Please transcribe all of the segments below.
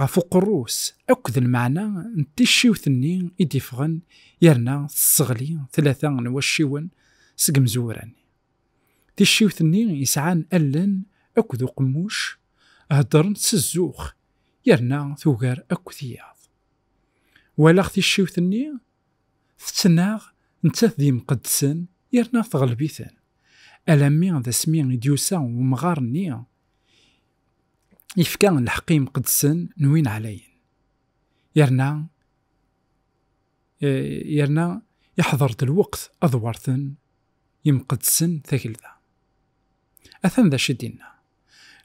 ɣef uqerru-s akked lmeɛna n ticciwt-nni i d-iffɣen yerna tesseɣli tlata n wacciwen seg imezwura-nni. Ticciwt-nni yesɛan allen akked uqemmuc heddren s zzux yerna tugar akk tiyaḍ. Walaɣ ticciwt-nni tettnaɣ nettat d yimqeddsen yerna teɣleb-iten, alammi d asmi i d-yusa umɣar-nni, yefka lḥeqq imqeddsen n win ɛlayen yerna eh, yerna iḥḍer-d lweqt ad werten imqeddsen tagelda atan d acu d-inna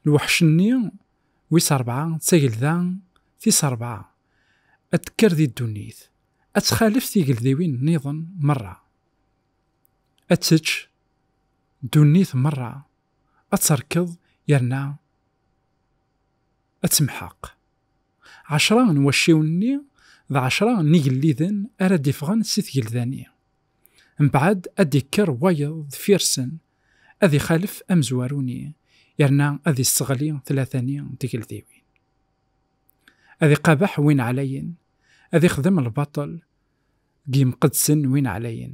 lweḥc-nni wis rebɛa d tagelda tis rebɛa ad tekker di ddunit ad txalef tigeldiwin nniḍen merra ad tečč ddunit merra ad terkeḍ yerna ad temḥeq. Ɛecra n wacciwen-nni d ɛecra n yigelliden ara d-iffɣen si tgelda-nni. Mbeɛd ad d-ikker wayeḍ deffir-sen, ad ixalef amezwaru-nni yerna ad isseɣli tlata-nni n tgeldiwin. Ad iqabeḥ win ɛlayen, ad ixdem lbaṭel deg yimqeddsen n win ɛlayen,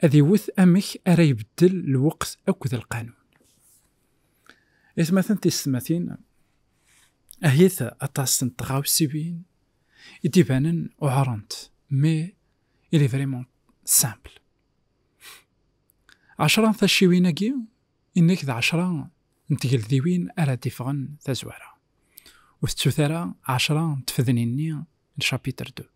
ad iwet amek ara ibeddel lweqt akked lqanun. Itmaten tisetmatin, ahit aṭas n tɣawsiwin i d-ibanen uɛrent, mais il est vraiment simple. Ɛecra n tacciwin-agi, inek d ɛecra n tgeldiwin ara d-iffɣen tazwara. Ur tettut ara ɛecra n tfednin-nni n chapitre 2.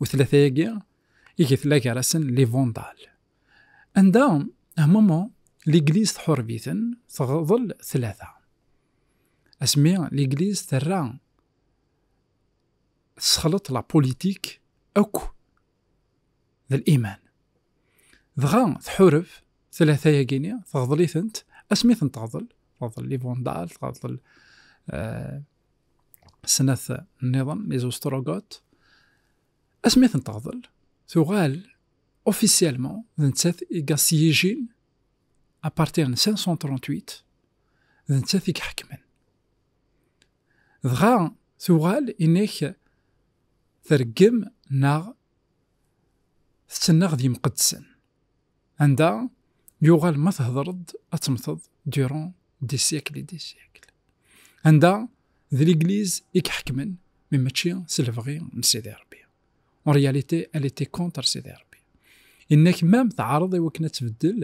u tlata-agi i getla gar-asen li Vandal. Anda, un moment, l'église tḥurbiten teɣḍel tlata. Asmi l'église terra tesxleḍ la politique akk d l'iman. Dɣa tḥureb tlata-agi-ni teɣḍel-itent asmi tent-teɣḍel, teɣḍel li Vandal, teɣḍel euh, snat nniḍen les ostrogotes asmi ten teɣḍel tuɣal officiellement d nettat i gassiyijin à partir de 538 d nettat i iḥekmen dɣa tuɣal inek tergem neɣ tettenneɣ d yimqeddsen Anda yuɣal ma thedreḍ ad temmteḍ durant des siècles et des siècles. Anda d l'église i iḥekmen mais mačči s lebɣi n Sidi Rebbi. En réalité, elle était contre Sidi Rebbi. Inna-k mam teɛreḍ i wakken ad tbeddel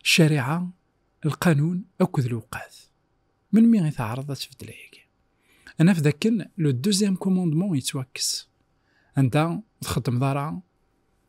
ccariɛa, lqanun akked lewqat. Melmi i teɛreḍ ad tbeddel ayagi? Ad naf dakken le deuxième commandement yettwakkes. Anda ur txeddmeḍ ara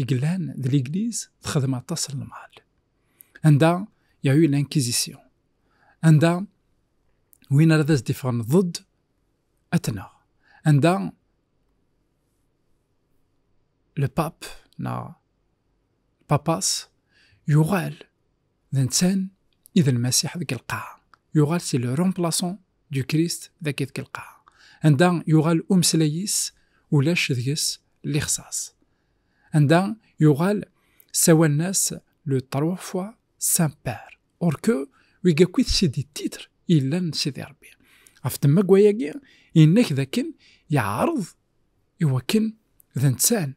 i yellan d l'église texdem aṭas n lmal anda ya eu l'inquisition anda win ara d as d-iffɣen ضد atnaɣ anda le pape na papas yuɣal d ntan i d lmasiḥ deg lqaɛa yuɣal si le remplaçant du Christ dagi deg lqaɛa anda yuɣal umeslay-is ulac deg-s lixṣaṣ anda yuɣal ssawalen-as le trois fois saint père or que wigi akk i tessi di titre yellan sidi Rebbi ɣef temma n wayagi yenna-k d akken yeɛreḍ iwakken d ntan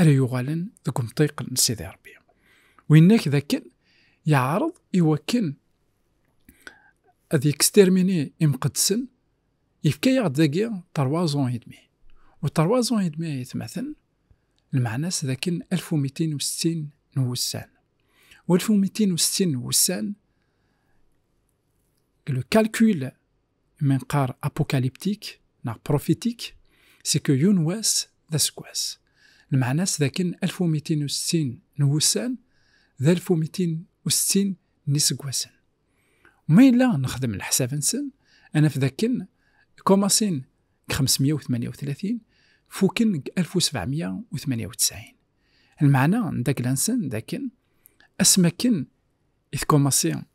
ara yuɣalen deg umṭiq n Sidi Ṛebbi. Winna-k d akken yeɛreḍ iwakken ad yekstermini imqeddsen, yefka-yaɣ-d dagi tarwaẓun idmi. U tarwaẓun idmi ay tmaten, lmeɛna-s d akken alf u mitin u settin n wussan. U alf u mitin u settin n wussan, le calcul Ma neqqar apukaliptik neɣ prufitik, c'est que yiwen wass d aseggas. Lmeɛna-s d akken alef u mitin u settin n wussan d alef u mitin u settin n yiseggasen. U ma yella nexdem leḥsab-nsen, ad naf d akken commencen deg xemes meyya u tmanya u tlatin, fuken deg alef u sebɛa meyya u tmanya u ttɛin. Lmeɛna n tagla-nsen d akken asmi akken i tcommencer,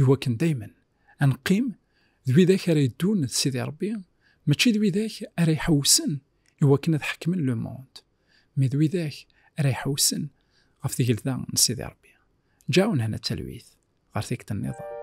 Iwakken dayma ad neqqim d widak ara yeddun d Sidi Rebbi, mačči d widak ara iḥewsen iwakken ad ḥekmen le monde, mi d widak ara iḥewsen ɣef tgelda n Sidi Rebbi. Ǧaɛu nehna d talwit ɣer tikkelt nniḍen.